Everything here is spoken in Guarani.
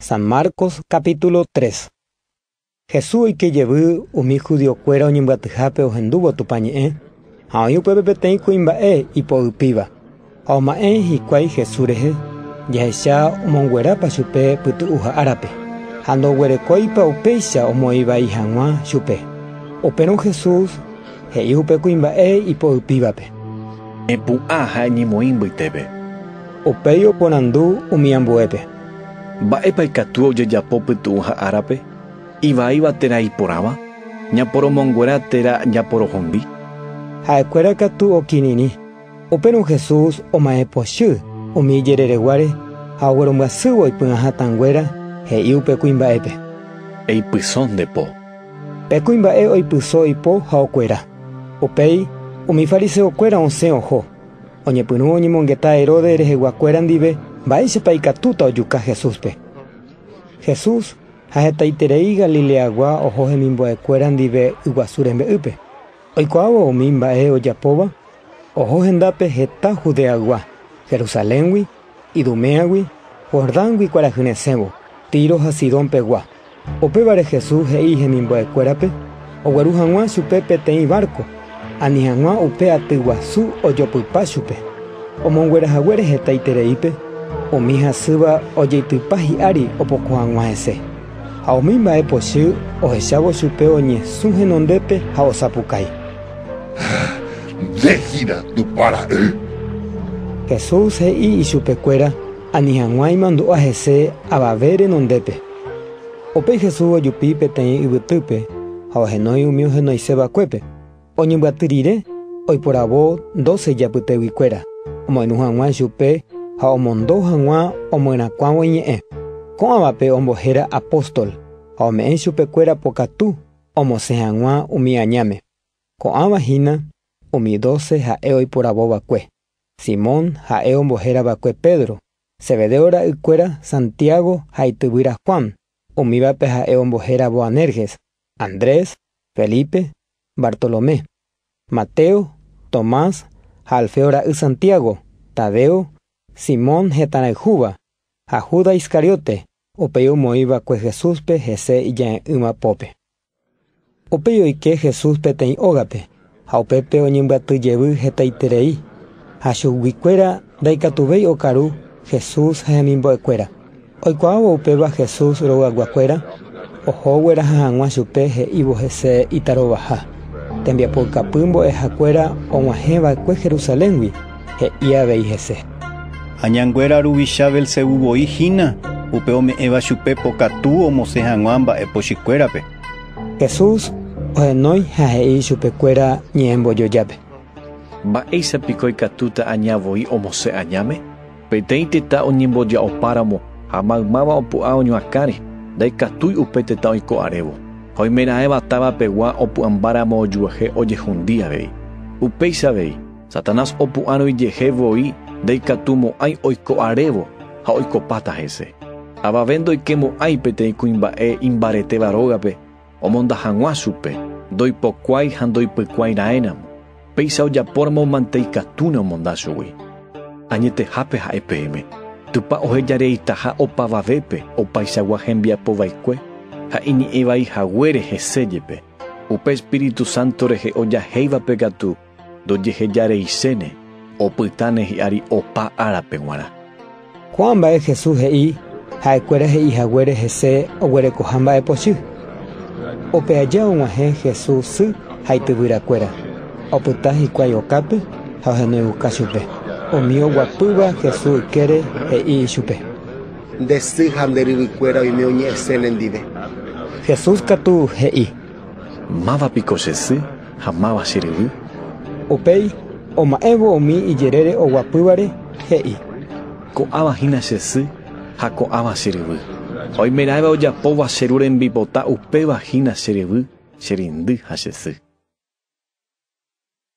San Marcos capítulo 3. Jesús oike jevy umi judiokuéra oñembyatyhápe ohendúvo Tupã ñe'ẽ, ha oĩ upépe peteĩ kuimba'e ipo'ypíva, ha oma'ẽ hikuái Jesús rehe, jahecha omonguerápa chupe pytu'uha árape, ha ndoguerekóipa upéicha omoĩ vai hag̃ua chupe. Upérõ Jesús he'i upe kuimba'e ipo'ypívape. Epu'ã ha eñemoĩ mbytépe. Upéi oporandu umi ambuépe. Mba'épa ikatu ojejapo pytu'ũ ha árape? Ivaíva térã iporãva? Ñaporomonguera térã ñaporohondi? Ha'ekuéra katu okirirĩ. Upérõ Jesús oma'ẽ pochy umi ijerereguáre ha oguerombyasývo oipy'ã hatãnguéra, he'i upe kuimba'épe. Eipyso nde po. Pe kuimba'e oipyso ipo ha okuera. Upéi umi fariseokuéra osẽ oho. Oñepyrũ oñemongeta Herodes reheguakuéra ndive mba'éichapa ikatúta ojuka Jesúspe. Jesús ha hetaiterei Galileagua oho hemimbo'ekuéra ndive yguasu rembe'ýpe. Oikuaávo umi mba'e ojapóva, oho hendápe heta Judeagua, Jerusaléngui Iduméagui, Jordángui kuarahy resẽvo, Tiro ha Sidón pegua. Upévare Jesús he'i hemimbo'ekuérape ogueru hag̃ua chupe peteĩ várko, ani hag̃ua upe aty guasu ojopypa chupe. Omonguera haguére hetaitereípe, umi hasýva ojeitypa hi'ári opoko hag̃ua hese, ha umi mba'e pochy ohechávo chupe oñesũ henondépe ha osapukái. Nde hína Tupã ra'y. Jesús he'i ichupe kuéra, Ani hag̃ua imandu'a hese avave renondépe. Upéi Jesús ojupi peteĩ yvytýpe ha ohenói umi ohenoise vakuépe. Oñembyaty rire, oiporavo doce ijapytégui kuéra, omoirũ hag̃ua ichupe ha omondo hag̃ua omyerakuãvo iñe'ẽ. Ko'ãvape ombohéra apóstol ha ome'ẽ ichupe kuéra pokatu Omosẽ hag̃ua umi añáme. Ko'ãva hína umi doce ha'e oiporavo va'ekue, Simón, ha'e ombohéra va'ekue Pedro, Zebedeo ra'y kuéra Santiago ha ityvýra Juan, umívape ha'e ombohéra Boanerges, Andrés, Felipe, Bartolomé, Mateo, Tomás ha Alfeo ra'y Santiago, Tadeo, Simón hetãrayhúva, ha Judas Iscariote, Upéi omoĩ va'ekue Jesúspe hese ija'e'ỹva pópe. Upéi oike Jesús peteĩ ógape ha upépe oñembyaty jevy hetaiterei, ha chugui kuéra ndaikatuvéi okaru Jesús ha hemimbo'ekuéra. Oikuaávo upéva Jesús royguakuéra? Oho gueraha hag̃ua chupe he'ívo hese itarovaha. Tembiapoukapy mbo'ehakuéra og̃uahẽ va'ekue Jerusaléngui, he'i avei hese. Ha ñanguéra ruvicha Belzebú voi hína, upe ome'ẽva chupe pokatu omosẽ hag̃ua mba'e pochykuérape. Jesús ohenói ha he'i chupekuéra ñe'ẽmbojojápe. Mba'éicha piko ikatúta aña voi omosẽ añáme? Peteĩ tetã oñemboja'opáramo ha maymáva opu'ã oñuakãre, ndaikatúi upe tetã oiko arévo. Ha oimeraẽva távapegua opu'ãmbáramo ojuehe ojehundi avei. Upéicha avei, Satanás opu'ãroijehe voi ndaikatumo'ãi oiko arévo ha oikopáta hese. Avave ndoikemo'ãi peteĩ kuimba'e imbaretéva rógape, Omonda hag̃ua chupe, ndoipokuái ha ndoipykuái raẽramo, péicha ojapóramo mante ikatúne omonda chugui. Añetehápe ha'e peẽme, Tupã oheja reitaha opavavépe opaichagua hembiapo vaikue ha iñe'ẽvai haguére hese jepe, upe Espíritu Santo rehe ojahéivape katu Ndojehejareiséne, opytáne hi'ári opa árape g̃uarã. Ko'ã mba'e Jesús he'i ha'ekuéra he'i haguére hese oguerekoha mba'e pochy. Upe aja og̃uahẽ Jesús sy ha ityvyrakuéra, opyta hikuái okápe ha ohenoiuka chupe. Umi oguapýva Jesús ykére he'i ichupe. Nde sy ha nde ryvykuéra oime oñe'ẽse nendive. Jesús katu he'i. Máva piko che sy? ha máva che ryvy. Upéi oma'ẽvo umi ijerére oguapývare, he'i. Ko'ãva hína che sy ha ko'ãva che ryvy. Oimeraẽva ojapóva che ru rembipota upéva hína che ryvy, che reindy ha che sy.